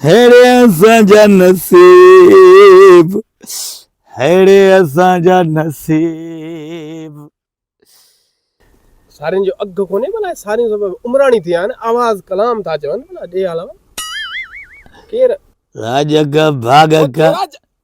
ههڙي اسان جا نصيب ههڙي اسان جا نصيب. سارين جو اگهه ڪونهي ڀلا هي ساريون سڀ عمراڻي ٿيا آهن آواز ڪلام ٿا چون ڀلا ڏي هالان ڪير. راڄ اگهه ڀاڳ ڪا.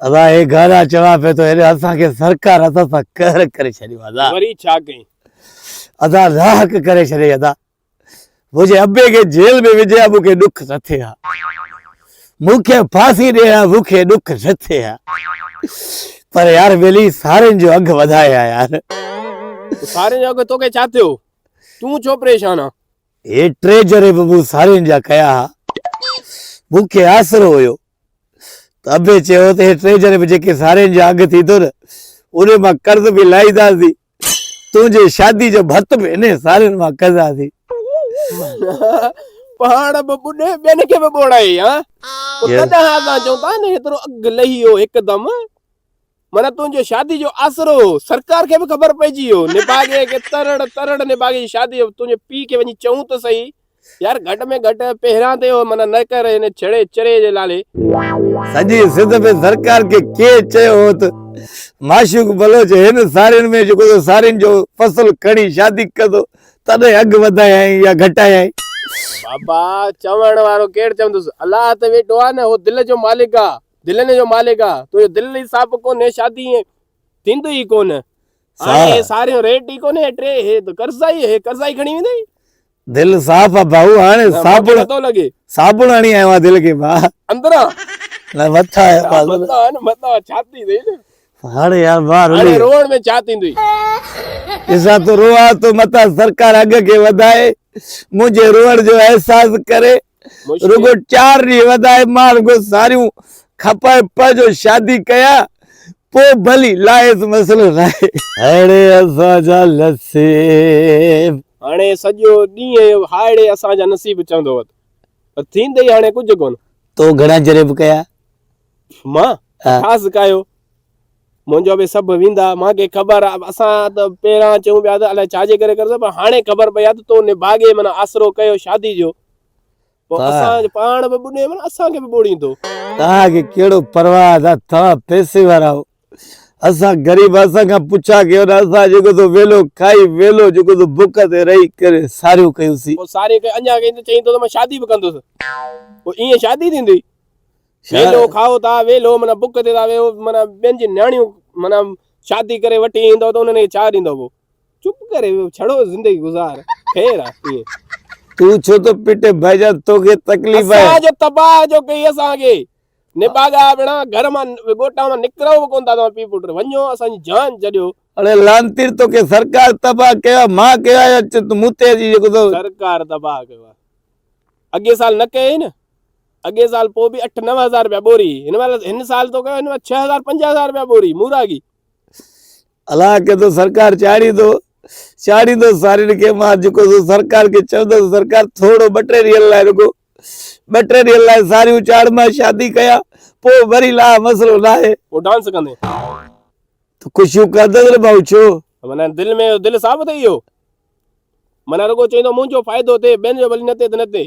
ادا هي گانا چوان پي تو هيڏي اسان کي سرڪار اسان سان قهر ڪري ڇڏيو ادا وري ڇا ڪئين ادا راهڪ ڪري ڇڏي ادا مجھي ابي کي جيل ۾ وجھي ها مونکي ڏک نه ٿئي ها مونکي ڦاسي ڏي ها مونکي ڏک نه ٿئي ها پر يار ملي سارين جو اگھ وڌائي ها يار سارين جو اگھ توکي ڇا ٿيو تون ڇو پريشان آ هي ٽي جري به مون سارين جا ڪيا ها. مون کي آسرو هيو ته ابي چيو ته هي ٽي جري به جيڪي سارين جا اگهه ٿيندو نه انهي مان قرض به لاهينداسين. تنهنجي شادي جو ڀت به انهي سارين مان ڪنداسين. معنيٰ پاڻ به ٻڏي ٻين کي به ٻوڙائي ها. پوء تڏهن اسان چئون ٿا نه هيترو اگهه لهي ويو هڪدم. معنيٰ تنهنجي شادي جو آسرو هو. سرڪار کي به خبر پئجي ويو. نڀاڳي کي ترڙ ترڙ نڀاڳي جي شادي جو تنهنجي پيء کي وڃي چئون ته سهي. يار گهٽ ۾ گهٽ پهريان ته اهو منع نه ڪر هن ڇڙي چري جي لالي. سڄي سنڌ ۾ سرڪار کي ڪير چيو هو ته معشوق بلوچ هن سارين ۾ جيڪو ته سارين جو فصل کڻي شادي ڪندو تڏهن اگهه وڌايائين يا گهٽايائين. بابا چوڻ وارو ڪير چوندس. الله ته ويٺو آهي نه اهو دل جو مالڪ آهي. دلين جو مالڪ آ تنهنجو دل ئي صاف ڪونهي شادي ائين ٿيندي ئي ڪونه هاڻي اهي ساريون ريٽ ئي ڪونهي اهي ٽي اهي ته قرضا ئي اهي قرضا ئي کڻي ويندي دل صاف آ ڀائو هاڻي صابڻ نٿو لڳي صابڻ هڻي آيو آ دل کي ڀا اندران نه مٿا آيا ڀا مٿا نه مٿا ڇاتي تي نه هاڻي يار ڀا هاڻي روئڻ ۾ ڇا ٿيندي ڏسا تو روئا تو مٿا سرڪار اگهه کي وڌائي منهنجي روئڻ جو احساس ڪري رڳو چار ڏينهن وڌائي ماڻهن کان ساريون کپائي پنهنجو شادي ڪيا پوء ڀلي لاهيس مسئلو ناهي. هائڙي اسان جا نصيب. هاڻي سڄو ڏينهن هائڙي اسان جا نصيب چوندو هوت پر ٿيندي هاڻي ڪجهه ڪونه. تو گهڻا جريب ڪيا. مان ڇا سکايو منهنجو به سڀ ويندا مان کي خبر آ اسان ته پهران چون پيا ته الاء ڇا جي ڪري ڪرسو پر هاڻي خبر پئي آ ته تو نڀاڳي من آسرو ڪيو شادي جو پو اسان جو پاڻ به ٻڏي من اسان کي به ٻوڙيندو توهان کي ڪهڙو پرواهه ته توهان پئسي وارا آهو اسان غريب اسان کان پڇا ڪيو نه اسان جيڪو سو ويلو کائي ويلو جيڪو سو بک تي رهي ڪري ساريون ڪيون سين پو ساريون ڪيون اڃا ڪيون ته چئين تو ته مان شادي به ڪندس پو ائين شادي ٿيندي ويلو کائو ٿا ويلو معنيٰ بک تي ٿا ويهو معنيٰ ٻين جي نياڻيون معنيٰ شادي ڪري وٺي ايندو ته انهن کي ڇا ڏيندو پوء چپ ڪري ويهو ڇڙو زندگي گذار خير آهي تون ڇو ٿو پٽي ڀائيجا توکي تڪليف آهي اسان جو تباهه جو ڪي اسان کي نباغا بنا گھر مان گوٽا مان نڪرو به ڪون ٿا تو پي پٽ وڃو اسان جي جان جڏيو اڙي لانتير تو کي سرڪار تباهه ڪيو ما ڪيو آهي تو مون تي جي جيڪو تو سرڪار تباهه ڪيو اڳي سال نه ڪيئي نه اڳئين سال پوء به اٺ نو هزار رپيا ٻوري هئي. هن مهل هن سال تو ڪيو هن مهل ڇهه هزار پنج هزار رپيا ٻوري موراڳي. الا ڪي تو سرڪار چاڙهيندو چاڙهيندو سارين کي مان جيڪو سو سرڪار کي چوندس سرڪار ٿورڙو ٻه ٽي ڏينهن لاء رڳو ٻه ٽي ڏينهن لاء ساريون چاڙهه مان شادي ڪيا پوء وري لاء مسئلو ناهي. پوء ڊانس ڪندين. تو خوشيون ڪندس نه ڀائو ڇو. معنيٰ دل ۾ دل صاف اٿئي اهو معنيٰ رڳو چوندو منهنجو فائدو ٿئي ٻين جو ڀلي نه ٿئي ته نه ٿئي.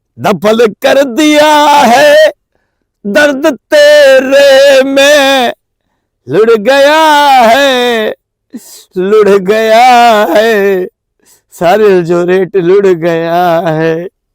دفن ڪر ديا هي درد تيري مين لڙ گيا هي لڙ گيا هي ساريل جو ريٽ لڙ گيا هي.